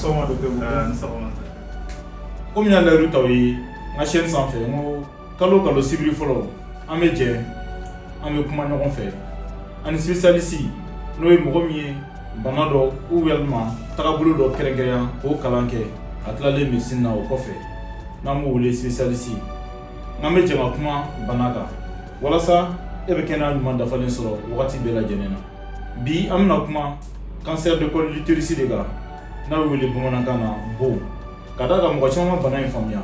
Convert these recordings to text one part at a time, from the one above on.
sɔgɔma docteur ni sɔgɔma komi n y'a layidu t'aw ye n ka chaîne sanfɛ n ko kalo o kalo sibiri fɔlɔ an bɛ jɛ an bɛ kuma ɲɔgɔn fɛ ani spécialiste n'o ye mɔgɔ min ye bana dɔ ou walima tagabolo dɔ kɛrɛnkɛrɛnya k'o kalan kɛ a tilalen médecine na o kɔfɛ n'an b'o wele spécialiste N'an bɛ jɛ an bɛ kuma bana kan walasa e bɛ kɛnɛya ɲuman dafalen sɔrɔ wagati bɛɛ lajɛlen na bi an bɛna kuma cancer de col de l'utérus de kan n'a bɛ wele bamanankan na bon ka d'a kan mɔgɔ caman ma bana in faamuya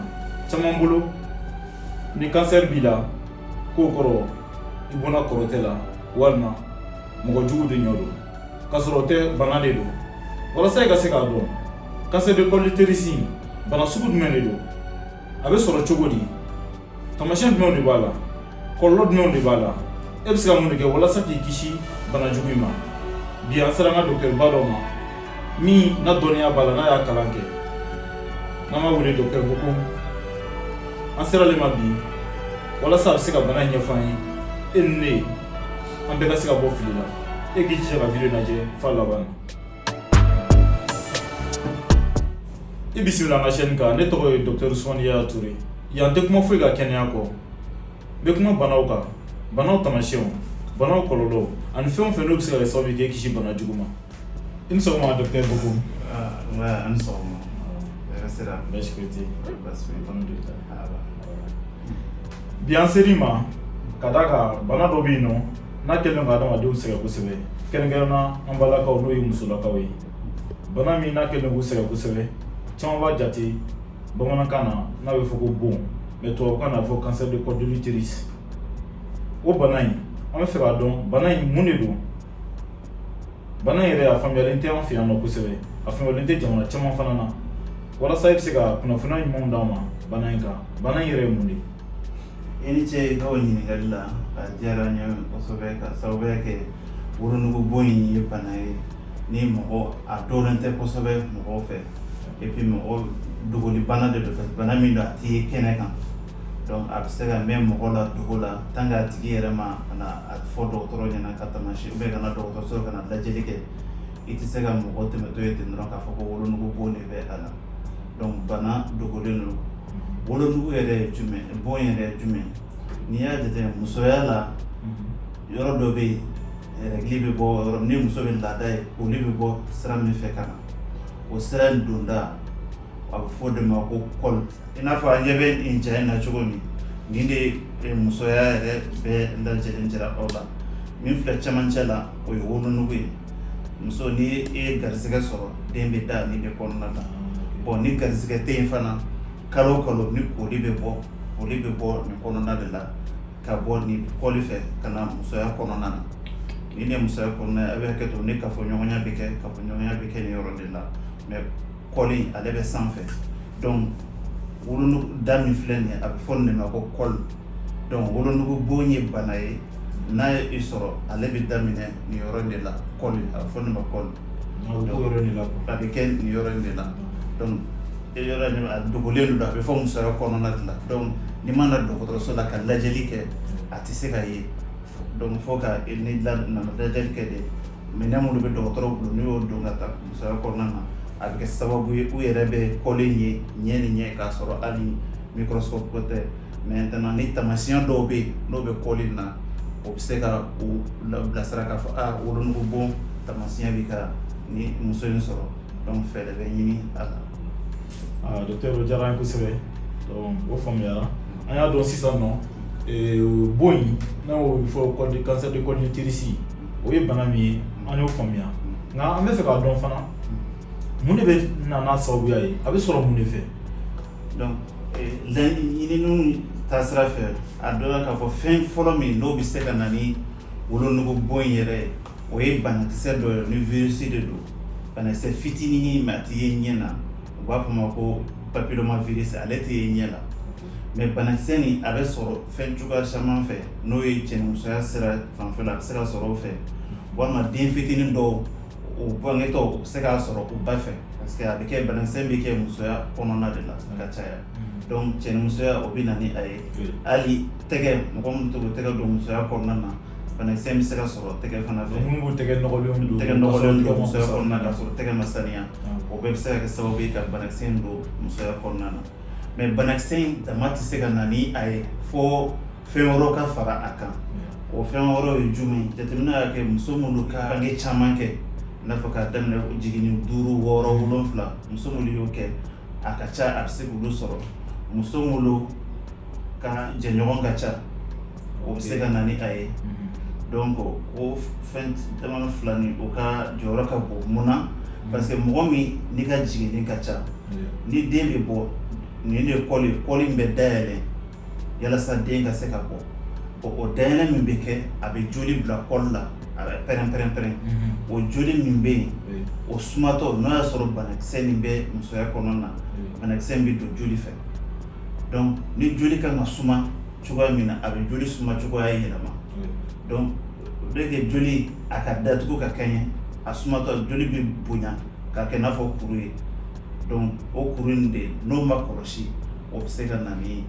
caman bolo ni cancer b'i la k'o kɔrɔ i bonna kɔrɔtɛ la walima mɔgɔ jugu de ɲɔ don k'a sɔrɔ o tɛ bana de don walasa i ka se k'a dɔn cancer de col de l'utérus bana sugu jumɛn de don a bɛ sɔrɔ cogo di taamasiyɛn jumɛnw de b'a la kɔlɔlɔ jumɛnw de b'a la e bɛ se ka mun de kɛ walasa k'i kisi bana jugu in ma bi an sera an ka docteurba dɔ ma min na dɔnniya b'a la n'a y'a kalan kɛ n'an b'a wele docteur Boko an sera ale ma bi walasa a bɛ se ka bana in ɲɛfɔ an ye e ni ne an bɛɛ ka se ka bɔ fili la e k'i jija ka video lajɛ f'a laban na I bisimila n ka chaîne kan ne tɔgɔ ye docteur Ousmane Ya Touré yan n tɛ kuma foyi kan kɛnɛya kɔ n bɛ kuma banaw kan banaw taamasiyɛnw banaw kɔlɔlɔ ani fɛn o fɛn n'o bɛ se ka kɛ sababu ye k'e kisi bana jugu ma i ni sɔgɔma docteur Boko an ni sɔgɔma hɛrɛ sira baasi foyi tɛ yen baasi foyi tɛ alhamdulilayi bi an ser'i ma ka d'a kan bana dɔ bɛ yen nɔ N'a kɛlen don ka adamadenw sɛgɛn kosɛbɛ, kɛrɛnkɛrɛnnenya la an balakaw n'o ye musolakaw ye, bana min n'a kɛlen k'u sɛgɛn kosɛbɛ, caman b'a jate bamanankan na n'a bɛ fɔ ko bon mais tubabukan na a bɛ fɔ cancer de col de l'utérus o bana in an bɛ fɛ k'a dɔn bana in mun de don? bana in yɛrɛ a faamuyalen tɛ an fɛ yan nɔ kosɛbɛ, a faamuyalen tɛ jamana caman fana na, walasa i bɛ se ka kunnafoniya ɲumanw d'an ma bana in kan, bana in yɛrɛ ye mun de ye? i ni ce i ka o ɲininkali la a diyara n ye kosɛbɛ ka sababuya kɛ wolonugu bon in ye bana ye ni mɔgɔ a dɔnnen tɛ kosɛbɛ mɔgɔw fɛ et puis mɔgɔ dogoli bana de don bana min don a tɛ ye kɛnɛ kan donc a bɛ se ka mɛn mɔgɔ la dogo la tant que a tigi yɛrɛ ma ka na a fɔ dɔgɔtɔrɔ ɲɛna ka taamasiyɛn ou bien ka na dɔgɔtɔrɔso ka na lajɛli kɛ i tɛ se ka mɔgɔ tɛmɛtɔ ye ten dɔrɔn k'a fɔ ko wolonugu bon de bɛ a la. Donc bana dogolen don wolonugu yɛrɛ ye jumɛn bon yɛrɛ ye jumɛn n'i y'a jate musoya la yɔrɔ dɔ bɛ yen rɛgili bɛ bɔ yɔrɔ ni muso bɛ laada ye olu bɛ bɔ sira min fɛ ka na o sira in donda a bɛ fɔ o de ma ko kɔli i n'a fɔ an ɲɛ bɛ nin ja in na cogo min nin de ye musoya yɛrɛ bɛɛ lajɛlen jira aw la min filɛ cɛmancɛ la o ye wolonugu ye muso ni e ye garisɛgɛ sɔrɔ den bɛ da nin de kɔnɔna na bon ni garisɛgɛ tɛ yen fana kalo o kalo ni koli bɛ bɔ koli bɛ bɔ nin kɔnɔna de la ka bɔ nin kɔli fɛ ka na musoya kɔnɔna na nin de musoya kɔnɔna a bɛ hakɛ to ni kafoɲɔgɔnya bɛ kɛ kafoɲɔgɔnya bɛ kɛ nin yɔrɔ de la kɔli ale bɛ sanfɛ donc wolonugu da min filɛ nin a bɛ fɔ nin ma ko kɔli donc wolonugu bon ye bana ye n'a ye i sɔrɔ ale bɛ daminɛ nin yɔrɔ de la kɔli a bɛ fɔ nin ma kɔli a bɛ kɛ nin yɔrɔ de la donc yɔrɔ nin a dogolen don a bɛ fo musoya kɔnɔna de la donc n'i ma na dɔgɔtɔrɔso la ka lajɛli kɛ a tɛ se ka ye donc fo ka na lajɛli kɛ de minɛn minnu bɛ dɔgɔtɔrɔ bolo n'u y'o don ka taa musoya kɔnɔna na a bɛ kɛ sababu ye u yɛrɛ bɛ kɔli in ye ɲɛ ni ɲɛ k'a sɔrɔ hali microscope ko tɛ maintenant ni taamasiyɛn dɔw bɛ yen n'o bɛ kɔli in na o bɛ se ka u bilasira k'a fɔ aa wolonugu bon taamasiyɛn bɛ ka nin muso in sɔrɔ donc fɛɛrɛ bɛ ɲini a la docteur o diyara an ye kosɛbɛ donc o faamuyara an y'a dɔn sisan nɔ bon in n'aw y'o fɔ ko cancer de col de l'utérus o ye bana min ye an y'o faamuya nka an b'a fɛ k'a dɔn fana mun de bɛ na n'a sababuya ye a bɛ sɔrɔ mun de fɛ donc ɲininiw taasira fɛ a dɔnna k'a fɔ fɛn fɔlɔ min n'o bɛ se ka na ni wolonugu bon in yɛrɛ ye o ye banakisɛ dɔ ye ni virus de don banakisɛ fitinin mais a tɛ ye ɲɛ na u b'a fɔ o ma ko papillomavirus ale tɛ ye ɲɛ na mais banakisɛ nin a bɛ sɔrɔ fɛn cogoya caman fɛ n'o ye cɛnimusoya sira fanfɛ a bɛ se ka sɔrɔ o fɛ walima den fitinin dɔw o bangetɔ u bɛ se k'a sɔrɔ u ba fɛ parce que a bɛ kɛ banakisɛ bɛ kɛ musoya kɔnɔna de la ka caya donc cɛnimusoya o bɛ na ni a ye hali tɛgɛ mɔgɔ min to k'u tɛgɛ don musoya kɔnɔna na banakisɛ bɛ se ka sɔrɔ tɛgɛ fana fɛ minnu b'u tɛgɛ nɔgɔlenw don tɛgɛ nɔgɔlenw don musoya kɔnɔna k'a sɔrɔ tɛgɛ ma saniya o bɛɛ bɛ se ka kɛ sababu ye ka banakisɛ in don musoya kɔnɔna na mais banakisɛ in dama tɛ se ka na ni a ye fo fɛn wɛrɛ ka fara a kan o fɛn wɛrɛ ye jumɛn jateminɛ y'a kɛ muso minnu ka bange caman kɛ i n'a fɔ k'a daminɛ jiginni duuru wɔɔrɔ wolonfila muso minnu y'o kɛ a ka ca a bɛ se k'olu sɔrɔ muso minnu ka jɛɲɔgɔn ka ca o bɛ se ka na ni a ye donc o fɛn dama fila nin o ka jɔyɔrɔ ka bon mun na parce que mɔgɔ min n'i ka jiginni ka ca ni den bɛ bɔ nin de ye col in bɛ dayɛlɛ yalasa den ka se ka bɔ o o dayɛlɛ min bɛ kɛ a bɛ joli bila col la a bɛ pɛrɛn- pɛrɛnpɛrɛn o joli min bɛ yen o sumatɔ n'a y'a sɔrɔ banakisɛ nin bɛ musoya kɔnɔna na banakisɛ nin bɛ don joli fɛ ni joli kan ka suma cogoya min na a bɛ joli suma cogoya yɛlɛma donc o de kɛ joli a ka datugu ka kɛɲɛ a sumatɔ joli bɛ bonya ka kɛ i n'a fɔ kuru ye donc o kuru in de n'o ma kɔlɔsi o bɛ se ka na ni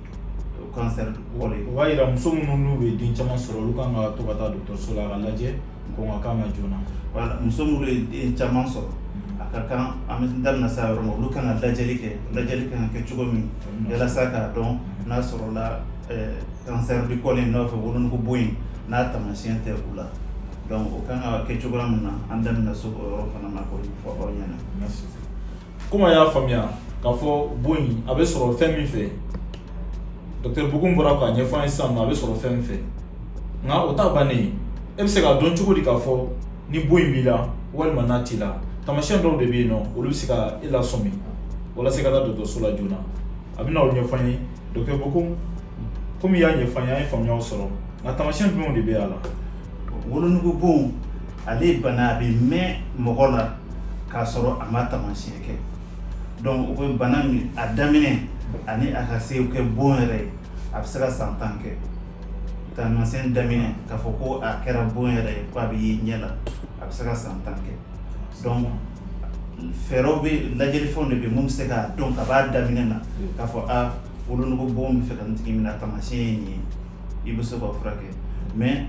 cancer ye o b'a yira muso minnu n'u bɛ den caman sɔrɔ olu kan ka to ka taa dɔgɔtɔrɔso la a ka lajɛ ko ma kan ka joona voilà muso minnu ye den caman sɔrɔ mm. a ka kan an da bɛna s'a yɔrɔ ma olu kan ka lajɛli kɛ lajɛli kan ka kɛ cogo min mm. yalasa k'a dɔn mm. n'a sɔrɔla eh, cancer du col i n'a fɔ wolonugu bon in n'a taamasiyɛn tɛ u la donc o kan ka kɛ cogoya min na an da bɛna se o yɔrɔ fana ma k'o fɔ aw ɲɛna comme a y'a faamuya k'a fɔ bon in a bɛ sɔrɔ fɛn min fɛ docteur Bokoum bɔra k'a ɲɛfɔ an ye sisan nɔ a bɛ sɔrɔ fɛn min fɛ nka o t'a bannen ye e bɛ se k'a dɔn cogo di k'a fɔ ni bon in b'i la walima n'a t'i la taamasiyɛn dɔw de bɛ yen nɔ olu bɛ se ka e lasɔmi walasa i ka taa dɔgɔtɔrɔso la joona a bɛna o ɲɛfɔ an ye docteur Bokoum komi i y'a ɲɛfɔ an ye an ye faamuyaw sɔrɔ nka taamasiyɛn jumɛnw de bɛ a la wolonugu bon Ale ye bana a bɛ mɛn mɔgɔ la k'a sɔrɔ a ma taamasiyɛn kɛ donc o bɛ bana min a daminɛ ani a ka se kɛ bon yɛrɛ ye a bɛ se ka san tan kɛ taamasiyɛn daminɛ k'a fɔ ko a kɛra bon yɛrɛ ye ko a bɛ ye ɲɛ la a bɛ se ka san tan kɛ donc fɛɛrɛw bɛ lajɛlifɛnw de bɛ minnu bɛ se k'a dɔn ka b'a daminɛ na k'a fɔ aa wolonugu bon bɛ fɛ ka nin tigi minɛ taamasiyɛn ye nin ye i bɛ se k'a furakɛ mais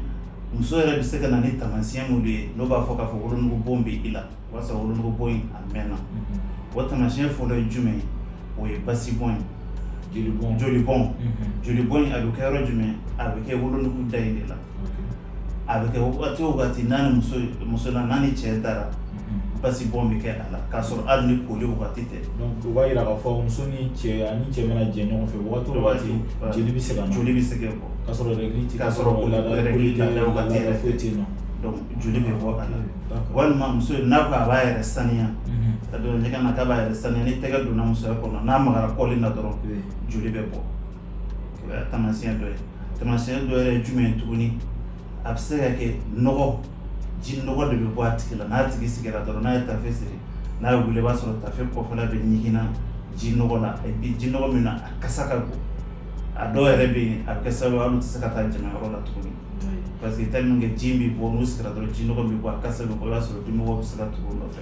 muso yɛrɛ bɛ se ka na ni taamasiyɛn minnu ye n'o b'a fɔ k'a fɔ wolonugu bon bɛ i la o y'a sɔrɔ wolonugu bon in a mɛnna o taamasiyɛn fɔlɔ ye jumɛn o ye basibɔn ye jolibɔn jolibɔn in a bɛ kɛ yɔrɔ jumɛn a bɛ kɛ wolonugu da in de la a bɛ kɛ wagati o wagati n'a ni muso ye muso na n'a ni cɛ dara basibɔn bɛ kɛ a la k'a sɔrɔ hali ni koli wagati tɛ donc o b'a yira k'a fɔ muso ni cɛ ani cɛ mana jɛ ɲɔgɔn fɛ wagati o wagati joli bɛ se ka na joli bɛ se ka bɔ k'a sɔrɔ règle tɛ k'a sɔrɔ o la règle t'a la wagati yɛrɛ foyi tɛ yen nɔ donc joli bɛ bɔ a la d'accord walima muso n'a ko a b'a yɛrɛ saniya ka don ɲɛgɛn na k'a b'a yɛrɛ saniya ni tɛgɛ donna musoya kɔnɔ n'a magara col in na dɔrɔn joli bɛ bɔ O ye taamasiyɛn dɔ ye taamasiyɛn dɔ yɛrɛ ye jumɛn ye tuguni a bɛ se ka kɛ nɔgɔ ji nɔgɔ de bɛ bɔ a tigi la n'a tigi sigira dɔrɔn n'a ye tafe siri n'a ye wuli i b'a sɔrɔ tafe kɔfɛla bɛɛ ɲiginna ji nɔgɔ la et puis ji nɔgɔ min na a kasa ka bon a dɔw yɛrɛ bɛ yen a bɛ kɛ sababu ye hali u tɛ se ka taa jama yɔrɔ la tuguni parce que tellement que ji in bɛ bɔ n'u sigira dɔrɔn ji nɔgɔ in bɛ bɔ a kasa bɛ bɔ i b'a sɔrɔ dimɔgɔw bɛ se ka tugu u nɔfɛ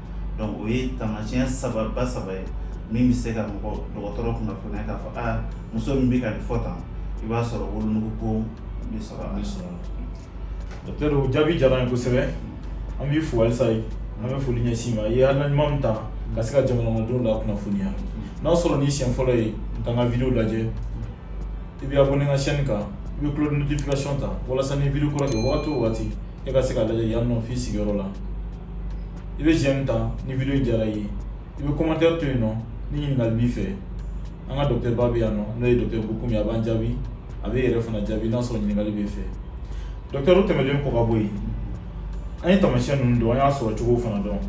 o ye taamasiyɛn saba ba saba ye min bɛ se ka mɔgɔ dɔgɔtɔrɔ kunnafoniya k'a fɔ aa muso min bɛ ka nin fɔ tan i b'a sɔrɔ wolonugu bɔn bɛ sɔrɔ a bɛ sɔrɔ docteur o jaabi diyara an ye kosɛbɛ an b'i fo halisa an bɛ foli ɲɛsin i ma i ye hakilina ɲuman min ta ka se ka jamanakɔnɔdenw la kunnafoniya n'a sɔrɔ nin siɲɛ fɔlɔ ye ka n ka video lajɛ i bɛ abonné n ka chaîne kan i bɛ cloche de notification ta walasa ni video kura kɛ wagati o wagati e ka se k'a lajɛ yan nɔ f'i sigiyɔrɔ la i bɛ j'aime ta ni video in diyara i ye i bɛ commentaire to yen nɔ ni ɲininkali b'i fɛ an ka docteur ba bɛ yan nɔ n'o ye docteur Bocoum ye a b'an jaabi a b'e yɛrɛ fana jaabi n'a sɔrɔ ɲininkali b'i fɛ docteur o tɛmɛlen kɔ ka bɔ yen an ye taamasiyɛn ninnu dɔn an y'a sɔrɔ cogo fana dɔn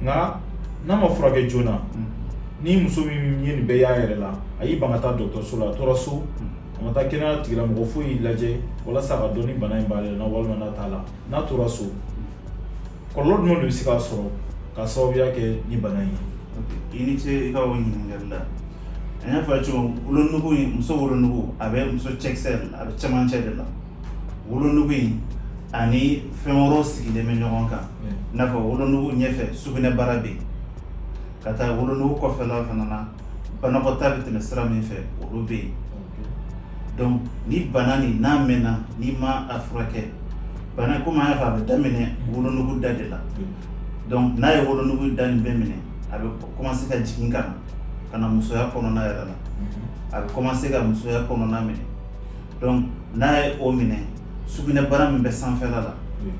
nka n'a ma furakɛ joona ni muso min ye nin bɛɛ y'a yɛrɛ la a y'i ban ka taa dɔgɔtɔrɔso la a tora so a ma taa kɛnɛya tigilamɔgɔ foyi y'i lajɛ walasa ka dɔn ni bana in b'ale la walima n'a t'a la n'a tora so kɔlɔlɔ jumɛn de bɛ se k'a sɔrɔ ka sababuya kɛ ni bana in ye i ni ce i ka o ɲininkali la an y'a fɔ a ye cogo min wolonugu in muso wolonugu a bɛ muso cɛkisɛ de la a bɛ cɛmancɛ de la wolonugu in ani fɛn wɛrɛw sigilen bɛ ɲɔgɔn kan i n'a fɔ wolonugu ɲɛfɛ sugunɛbara bɛ yen ka taa wolonugu kɔfɛla fana na banakɔtaa bɛ tɛmɛ sira min fɛ olu bɛ yen donc ni bana nin n'a mɛnna n'i ma a furakɛ bana komi an y'a fɔ a bɛ daminɛ wolonugu da de la donc n'a ye wolonugu da nin bɛɛ minɛ a bɛ commencer ka jigin ka na ka na musoya kɔnɔna yɛrɛ la a bɛ commencer ka musoya kɔnɔna minɛ donc n'a ye o minɛ sugunɛbara min bɛ sanfɛla la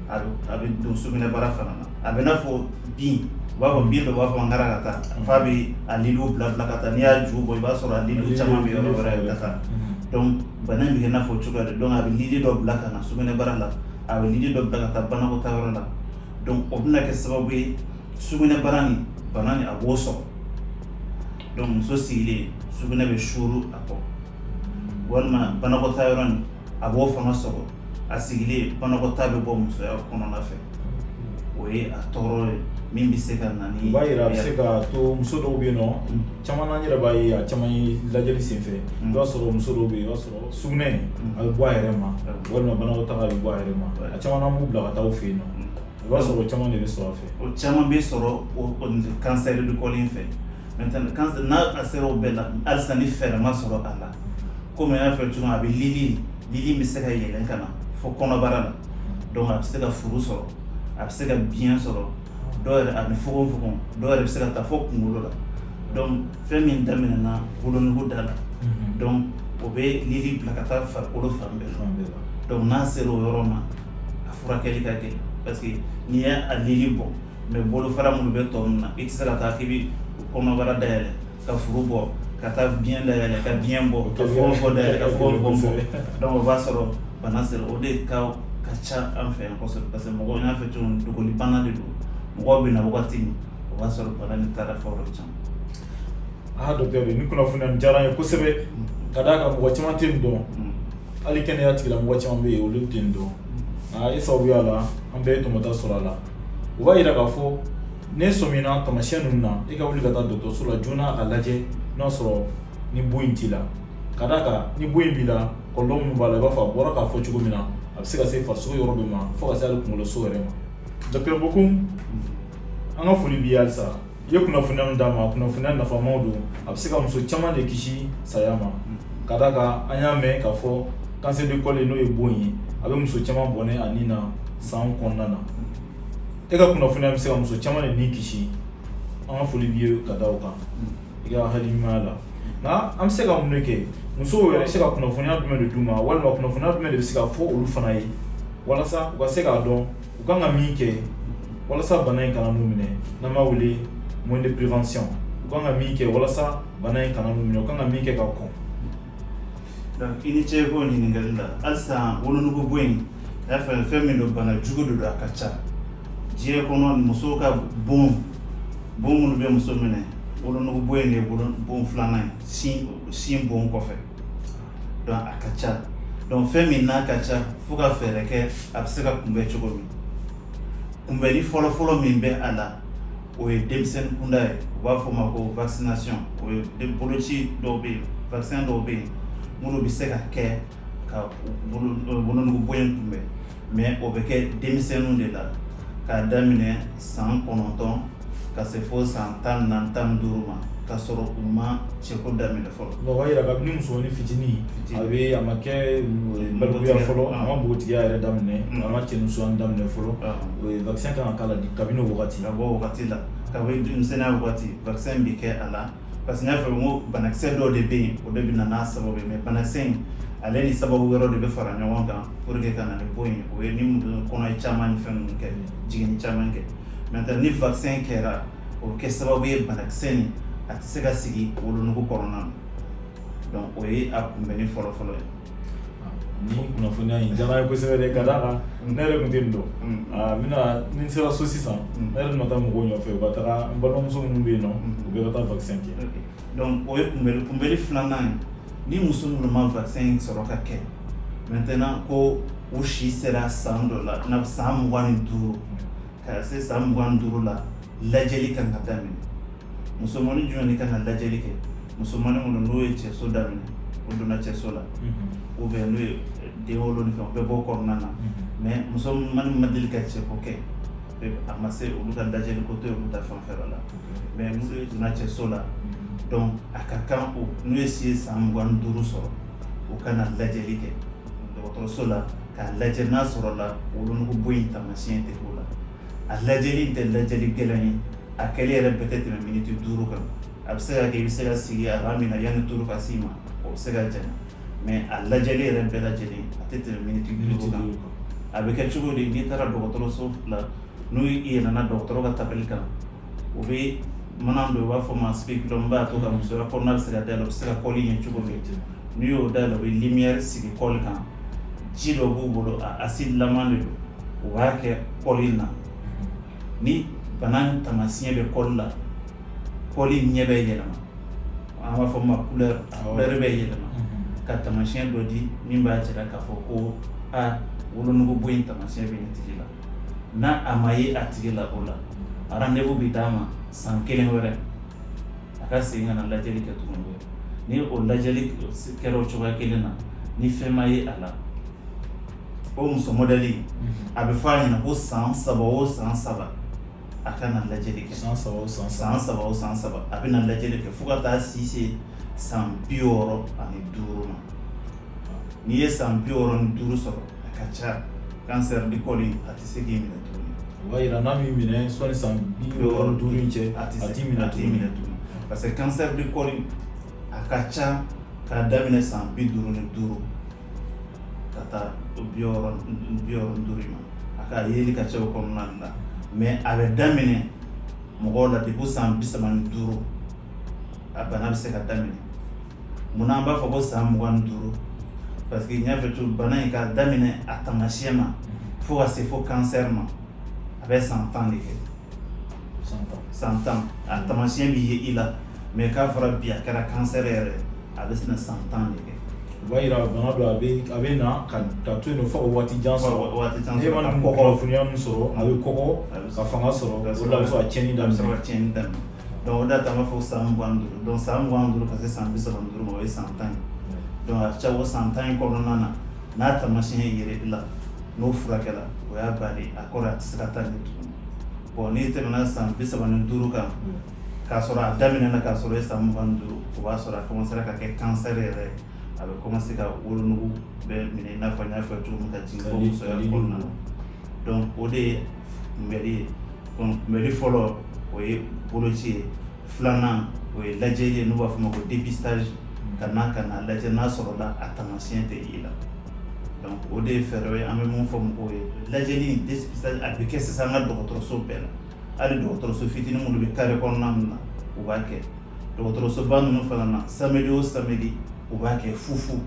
a bɛ don sugunɛbara fana na a bɛ i n'a fɔ bin u b'a fɔ bin dɔ b'a fɔ narakata f'a bɛ a lili bila ka taa n'i y'a ju bɔ i b'a sɔrɔ a lili caman bɛ yɔrɔ wɛrɛ la donc bana in bɛ i n'a fɔ cogoya de donc a bɛ lili dɔ bila ka na sugunɛbara la a bɛ lili dɔ bila ka taa banakɔtaa yɔrɔ la donc o bɛna kɛ sababu ye sugunɛbara nin bana nin a b'o sɔrɔ donc muso sigilen sugunɛ bɛ suuru a kɔ walima banakɔtaa yɔrɔ nin a b'o fana sɔrɔ a sigilen banakɔtaa bɛ bɔ musoya kɔnɔna fɛ o ye a tɔɔrɔ ye min bɛ se ka na ni o b'a jira a bɛ se ka to muso dɔw bɛ yen nɔ caman na n yɛrɛ b'a ye a caman ye lajɛli senfɛ i b'a sɔrɔ muso dɔw bɛ yen i b'a sɔrɔ sugunɛ a bɛ bɔ a yɛrɛ ma walima banakɔtaa a bɛ bɔ a yɛrɛ ma a caman na b'u bila ka taa u fɛ yen nɔ i b'a sɔrɔ caman de bɛ sɔrɔ a fɛ o caman bɛ sɔrɔ cancer du col in fɛ n'a a sera o bɛɛ la halisa ni fɛɛrɛ ma sɔrɔ a la komi n y'a fɔ cogo a bɛ lili lili bɛ se ka yɛlɛn ka na fo kɔnɔbara la donc a bɛ se ka furu sɔrɔ a bɛ se ka biɲɛ sɔrɔ dɔw yɛrɛ a bɛ fogofogo dɔw yɛrɛ bɛ se ka taa fo kunkolo la donc fɛn min daminɛna wolonugu da la donc o bɛ lili bila ka taa farikolo fan bɛɛ la donc n'a sera o yɔrɔ ma a furakɛli ka gɛlɛn parce que n'i y'a lili bɔ mais bolofara minnu bɛ tɔ ninnu na i tɛ se ka taa k'i kɔnɔbara dayɛlɛ ka furu bɔ ka taa biɲɛ dayɛlɛ ka biɲɛ bɔ ka fogofogo dayɛlɛ ka fogofogo bɔ donc o b'a sɔrɔ bana sera o de ka ka ca an fɛ yan kosɛbɛ parce que mɔgɔw n y'a fɔ cogo dogo bana de don mɔgɔw bɛ na wagati min o b'a sɔrɔ bana nin taara fo yɔrɔ caman docteur nin kunnafoniya nin diyara n ye kosɛbɛ ka d'a kan mɔgɔ caman tɛ nin dɔn hali kɛnɛya tigilamɔgɔ caman bɛ yen olu tɛ nin dɔn nka e sababuya la an bɛɛ ye tɔmɔta sɔrɔ a la o b'a yira k'a fɔ n'e sɔmina taamasiyɛn ninnu na e ka wuli ka taa dɔgɔtɔrɔso la joona a lajɛ n'a sɔrɔ ni bon in t'i la ka d'a kan ni bon in b'i la kɔlɔlɔ minnu b'a la i b'a fɔ a bɔra k'a fɔ cogo min na a bɛ se ka se farisogo yɔrɔ dɔ ma fo ka se hali kunkoloso yɛrɛ ma docteur Bokum an ka foli b'i ye halisa I ye kunnafoniya min d'an ma kunnafoniya nafamaw don a bɛ se ka muso caman de kisi saya ma ka d'a kan an y'a mɛn k'a fɔ cancer du col n'o ye bon ye a bɛ muso caman bɔnɛ a ni na san kɔnɔna na e ka kunnafoniya bɛ se ka muso caman de ni kisi an ka foli b'i ye ka da o kan i ka hakili ɲumanya la nka an bɛ se ka mun de kɛ musow yɛrɛ bɛ se ka kunnafoniya jumɛn de d'u ma walima kunnafoniya jumɛn de bɛ se ka fɔ olu fana ye walasa u ka se k'a dɔn u kan ka min kɛ walasa bana in kana n'u minɛ n'an b'a wele moyen de prévention u kan ka min kɛ walasa bana in kana n'u minɛ u kan ka min kɛ ka kɔn donc i ni ce k'o ɲininkali la halisa wolonugu bon in i y'a fɔ fɛn min don bana jugu de don a ka ca diɲɛ kɔnɔ musow ka bon bon minnu bɛ muso minɛ wolonugu bon in de ye wolo- bon filanan ye sin sin bon kɔfɛ donc a ka ca donc fɛn min n'a ka ca fo ka fɛɛrɛ kɛ a bɛ se ka kunbɛn cogo min kunbɛnni fɔlɔfɔlɔ min bɛ a la o ye denmisɛnnin kunda ye u b'a fɔ o ma ko vaccination o ye boloci dɔw bɛ yen vaccin dɔw bɛ yen minnu bɛ se ka kɛ ka wolonugu bon in kunbɛn mais o bɛ kɛ denmisɛnninw de la k'a daminɛ san kɔnɔntɔn ka se fo san tan ni naani tan ni duuru ma ka sɔrɔ u ma cɛko daminɛ fɔlɔ o b'a jira kabini musomanin fitinin a bɛ a ma kɛ balikuya fɔlɔ a ma npogotigiya yɛrɛ daminɛ a ma cɛnimusoya daminɛ fɔlɔ o ye vaccin kan ka k'a la kabini o wagati ka bɔ o wagati la kabini denmisɛnninya wagati vaccin in bɛ kɛ a la parce que n y'a fɔ ko banakisɛ dɔw de bɛ yen o de bɛ na n'a sababu ye mais banakisɛ in ale ni sababu wɛrɛ de bɛ fara ɲɔgɔn kan pour que ka na ni bon ye o ye ni kɔnɔ ye caman ni fɛn ninnu kɛ jiginni caman kɛ Maintenant ni vaccin kɛra o bɛ kɛ sababu ye banakisɛ in a tɛ se ka sigi wolonugu kɔnɔna na donc o ye a kunbɛnni fɔlɔfɔlɔ ye nin kunnafoniya in diyara n ye kosɛbɛ dɛ ka d'a kan ne yɛrɛ tun tɛ nin dɔn n bɛna ni n sera so sisan ne yɛrɛ bɛna taa mɔgɔw nɔfɛ u ka taa n balimamuso minnu bɛ yen nɔn u bɛɛ ka taa vaccin kɛ Donc o ye kunbɛli kunbɛli filanan ye ni muso minnu ma vaccin in sɔrɔ ka kɛ maintenant ko u si sera san dɔ la i n'a fɔ san mugan ni duuru ka se san mugan ni duuru la lajɛli kan ka daminɛ musomanin jumɛn de kan ka lajɛli kɛ musomanin minnu n'o ye cɛso daminɛ o donna cɛso la ou bien n'o ye den wolo ni fɛn o bɛɛ b'o kɔnɔna na mais musomanin ma deli ka cɛko kɛ a ma se olu ka lajɛli ko tɛ olu ta fanfɛla la mais n'u ye don cɛso la donc a ka kan o n'u ye si san mugan ni duuru sɔrɔ u ka na lajɛli kɛ dɔgɔtɔrɔso la k'a lajɛ n'a sɔrɔla wolonugu bon in tamasiyɛn tɛ o la a lajɛli in tɛ lajɛli gɛlɛn ye a kɛli yɛrɛ bɛɛ tɛ tɛmɛ miniti duuru kan a bɛ se ka kɛ i bɛ se ka sigi a min na yanni tour ka s'i ma o bɛ se ka janya mais a lajɛli yɛrɛ bɛɛ lajɛlen a tɛ tɛmɛ minute 5 kan, a bɛ kɛ cogo di n'i taara dɔgɔtɔrɔso la n'u i yɛlɛna dɔgɔtɔrɔ ka tabali kan u bɛ mana dɔ u b'a fɔ ma spéculum min b'a to ka musoya kɔnɔna bɛ se ka dayɛlɛ u bɛ se ka kɔli ye cogo min n'i y'o dayɛlɛ u bɛ lumière sigi kɔli kan ji dɔ b'u bolo a acide laman de don u b'a kɛ kɔli in na Ni bana tamasiyɛn bɛ kɔli la kɔli ɲɛ bɛ yɛlɛma an b'a fɔ ma couleur a couleur bɛ yɛlɛma ka tamasiyɛn dɔ di min b'a jira k'a fɔ ko aa wolonugu bon in tamasiyɛn bɛ nin tigi la n'a a ma ye a tigi la o la rendez-vous bɛ d'a ma san kelen wɛrɛ a ka segin ka na lajɛli kɛ tuguni ni o lajɛli kɛra o cogoya kelen na ni fɛn ma ye a la o muso modèle a bɛ fɔ a ɲɛna ko san saba o san saba a ka na lajɛli kɛ san san san saba o san saba a bɛ na lajɛli kɛ fo ka taa si se san bi wɔɔrɔ ani duuru ma n'i ye san bi wɔɔrɔ ni duuru sɔrɔ a ka ca cancer du col a tɛ se k'i minɛ tuguni o b'a jira n'a m'i minɛ sani san bi wɔɔrɔ ni duuru in cɛ a tɛ se k'i minɛ tugun parce que cancer du col a ka ca k'a daminɛ san bi duuru ni duuru ka taa bi wɔɔrɔ ni duuru ma a ka yeli ka ca o kɔnɔna la mais a bɛ daminɛ mɔgɔw la depuis san bi saba ni duuru a bana bɛ se ka daminɛ munna an b'a fɔ ko san mugan ni duuru parce que n y'a fɔ cogo bana in ka daminɛ a taamasiyɛn ma fo ka se fo cancer ma a bɛ san tan de kɛ san tan a taamasiyɛn bɛ ye i la mais k'a fɔra bi a kɛra cancer yɛrɛ a bɛ se ka san tan de kɛ o b'a jira bana don a bɛ a bɛ na ka ka to yen nɔ fo ka waati jan sɔrɔ waati jan sɔrɔ e ma nin kunnafoniya min sɔrɔ a bɛ kɔgɔ ka fanga sɔrɔ ka sɔrɔ a bɛ sɔrɔ ka tiɲɛni daminɛ a bɛ sɔrɔ ka tiɲɛni daminɛ donc o de y'a to an b'a fɔ san mugan ni duuru donc san mugan ni duuru ka se san bi saba ni duuru ma o ye san tan ye donc a ka ca o san tan in kɔnɔna na n'a taamasiyɛn yera i la n'o furakɛla o y'a bali a kɔrɔ a tɛ se ka taa ɲɛ tugun bon n'i tɛmɛna san bi saba ni duuru kan k'a sɔrɔ a daminɛna k'a sɔrɔ i san mugan ni duuru o b'a sɔrɔ a commencera ka kɛ cancer yɛrɛ ye a bɛ commencer ka wolonugu bɛɛ minɛ i n'a fɔ n y'a fɔ cogo min ka jigin fo musoya kɔnɔna na donc o de ye kunbɛli ye kunbɛli fɔlɔ o ye boloci ye filanan o ye lajɛli ye n'u b'a fɔ ma ko dépistage ka na ka na lajɛ n'a sɔrɔla a taamasiyɛn tɛ i la donc o de ye fɛɛrɛ ye an bɛ mun fɔ mɔgɔw ye lajɛli dépistage a bɛ kɛ sisan an ka dɔgɔtɔrɔso bɛɛ la hali dɔgɔtɔrɔso fitinin minnu bɛ carré kɔnɔna ninnu na u b'a kɛ dɔgɔtɔrɔsoba ninnu fana na samedi o samedi u b'a kɛ fufu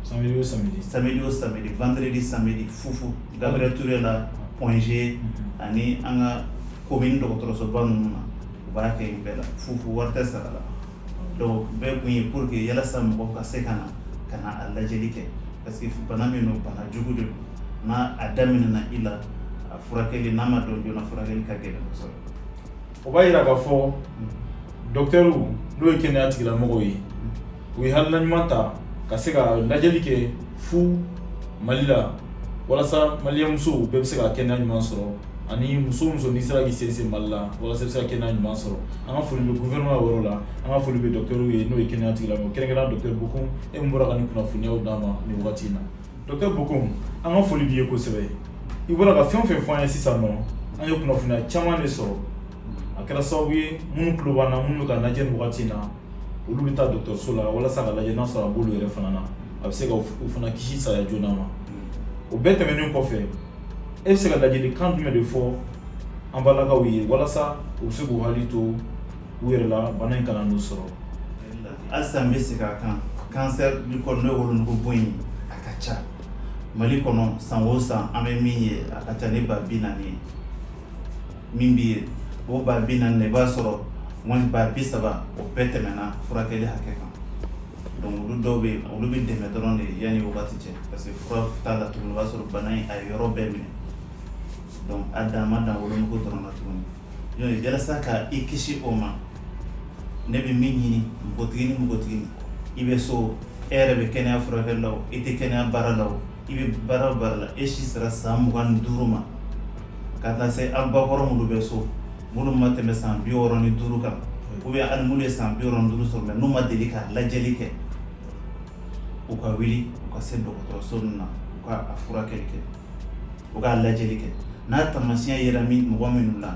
samedi o samedi samedi o samedi vendredi samedi fufu Gabriel Touré la Point G mhm. ani an ka commune dɔgɔtɔrɔsoba ninnu na u b'a kɛ yen bɛɛ la fufu wari tɛ sara la donc bɛɛ kun ye pour que yalasa mɔgɔw ka se ka na ka na a lajɛli kɛ parce que bana min don bana jugu de don n'a a daminɛna i la a furakɛli n'a ma dɔn joona furakɛli ka gɛlɛn kosɛbɛ o b'a yira k'a fɔ mhm. dɔktɛriw n'o ye kɛnɛya tigilamɔgɔw ye u ye hakilina ɲuman ta ka se ka lajɛli kɛ fu Mali la walasa maliyɛn musow bɛɛ bɛ se ka kɛnɛya ɲuman sɔrɔ ani muso muso n'i sera k'i sensen Mali la walasa i bɛ se ka kɛnɛya ɲuman sɔrɔ an ka foli bɛ gouvernement yɔrɔ la an ka foli bɛ dɔkitɛriw ye n'o ye kɛnɛya tigilamɔgɔ kɛrɛnkɛrɛnnenya dɔkitɛri Bocoum e min bɔra ka nin kunnafoniyaw d'an ma nin wagati in na dɔkitɛri Bocoum an ka foli b'i ye kosɛbɛ i bɔra ka fɛn o fɛn fɔ an ye sisan nɔ an ye kunnafoniya caman de sɔrɔ a kɛra sababu ye minnu tulo b'an na minnu bɛ k'an lajɛ nin wagati in na olu bɛ taa dɔgɔtɔrɔso la walasa ka lajɛ n'a sɔrɔ a b'olu yɛrɛ fana na a bɛ se ka u fana kisi saya joona ma o bɛɛ tɛmɛnen kɔfɛ e bɛ se ka ladilikan jumɛn de fɔ an balakaw ye walasa u bɛ se k'u hakili to u yɛrɛ la bana in kana n'u sɔrɔ halisa n bɛ segin a kan cancer du col n'o ye wolonugu bon ye a ka ca Mali kɔnɔ san o san an bɛ min ye a ka ca ni ba bi naani ye min bɛ yen o ba bi naani i b'a sɔrɔ wali ba bi saba o bɛɛ tɛmɛna furakɛli hakɛ kan donc olu dɔw bɛ yen olu bɛ dɛmɛ dɔrɔn de yanni wagati cɛ parce que fura t'a la tuguni o b'a sɔrɔ bana in a ye yɔrɔ bɛɛ minɛ donc a dan ma dan wolonugu dɔrɔn na tuguni donc yalasa ka i kisi o ma ne bɛ min ɲini npogotigi ni npogotigi i bɛ so e yɛrɛ bɛ kɛnɛya furakɛli la o i tɛ kɛnɛya baara la o i bɛ baara o baara la e si sera san mugan ni duuru ma ka taa se an bakɔrɔ minnu bɛ so minnu ma tɛmɛ san bi wɔɔrɔ ni duuru kan ou bien hali minnu ye san bi wɔɔrɔ ni duuru sɔrɔ mais n'u ma deli ka lajɛli kɛ u ka wuli u ka se dɔgɔtɔrɔso ninnu na u ka a furakɛli kɛ u k'a lajɛli kɛ n'a taamasiyɛn yera min mɔgɔ minnu na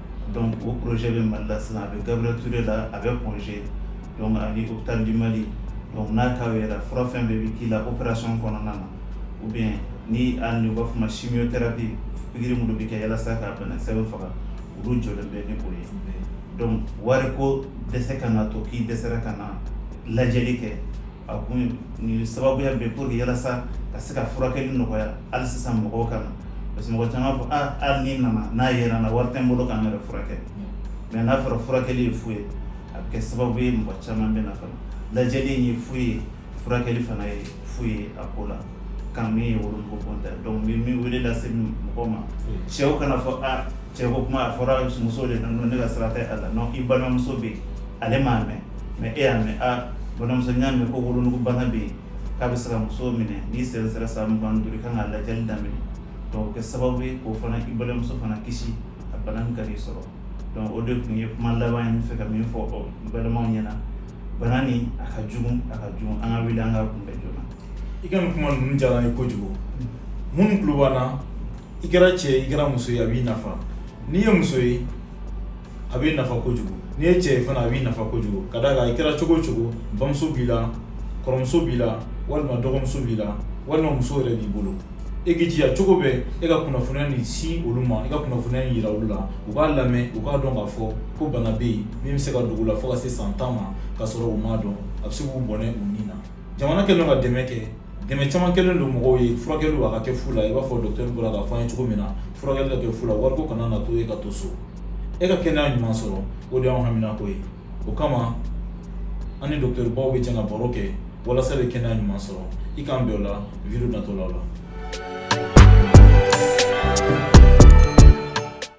Dɔnku ko pjɛ bɛ mali la sisan a bɛ gaɛrɛre la a bɛ pɔɔnse ani u bɛ taa di mali dɔnku n'a ta yɛrɛ fura fɛn bɛɛ bɛ k'i la o kɛrara sɔn kɔnɔna na u bɛ ni u b'a fɔ si bɛ pipikiri minnu bɛ kɛ walasa ka bana sɛbɛn faga olu jɔ bɛ ne bolo ye dɔnku wari ko dɛsɛ ka na to k'i dɛsɛsera ka na lajɛli kɛ a kun ni sababuya bɛɛ pour que yalasa ka se ka furakɛli nɔgɔya hali sisan mɔgɔw ka na parce que mɔgɔ caman b'a fɔ aa hali ni n nana n'a yera n na wari tɛ n bolo ka n yɛrɛ furakɛ mais n'a fɔra furakɛli ye fu ye a bɛ kɛ sababu ye mɔgɔ caman bɛ na fana lajɛli in ye fu ye furakɛli fana ye fu ye a ko la Ka min ye volonté donc n bɛ min wele lase mɔgɔ ma cɛw kana fɔ aa cɛ ko kuma a fɔra muso de nana ne ka sira tɛ a la i balimamuso bɛ yen ale m'a mɛn mais e y'a mɛn aa balimamuso n y'a mɛn ko wolonugu bana bɛ yen k'a bɛ se ka muso minɛ n'i si sera san mugan ni duuru i kan ka lajɛli daminɛ kɛ sababu ye k'o fana i balimamuso fana kisi a bana kana a sɔrɔ donc o de tun ye kuma laban ye n fɛ ka min fɔ balimaw ɲɛna bana nin a ka jugu a ka jugu an ka wuli an k'a kunbɛn joona i ka nin kuma ninnu diyara n ye kojugu minnu tulo b'an na i kɛra cɛ ye i kɛra muso ye a b'i nafa n'i ye muso ye a b'i nafa kojugu n'i ye cɛ ye fana a b'i nafa kojugu ka d'a kan i kɛra cogo o cogo bamuso b'i la kɔrɔmuso b'i la walima dɔgɔmuso b'i la walima muso yɛrɛ b'i bolo e k'i jija cogo bɛɛ e ka kunnafoniya nin sin olu ma i ka kunnafoniya in yira olu la u k'a lamɛn u k'a dɔn k'a fɔ ko bana bɛ yen min bɛ se ka dogo u la fo ka se san tan ma k'a sɔrɔ u m'a dɔn a bɛ se k'u bɔnɛ u ni na jamana kɛlen ka dɛmɛ kɛ dɛmɛ caman kɛlen don mɔgɔw ye furakɛli a ka kɛ fu la i b'a fɔ docteur bɔra k'a fɔ an ye cogo min na furakɛli ka kɛ fu la wariko kana na to e ka to so e ka kɛnɛya ɲuman sɔrɔ o de y'an haminako ye o kama an ni docteur baw bɛ jɛ ka baro kɛ walasa bɛ kɛnɛya ɲuman sɔrɔ i k'an bɛn o la video natɔlaw la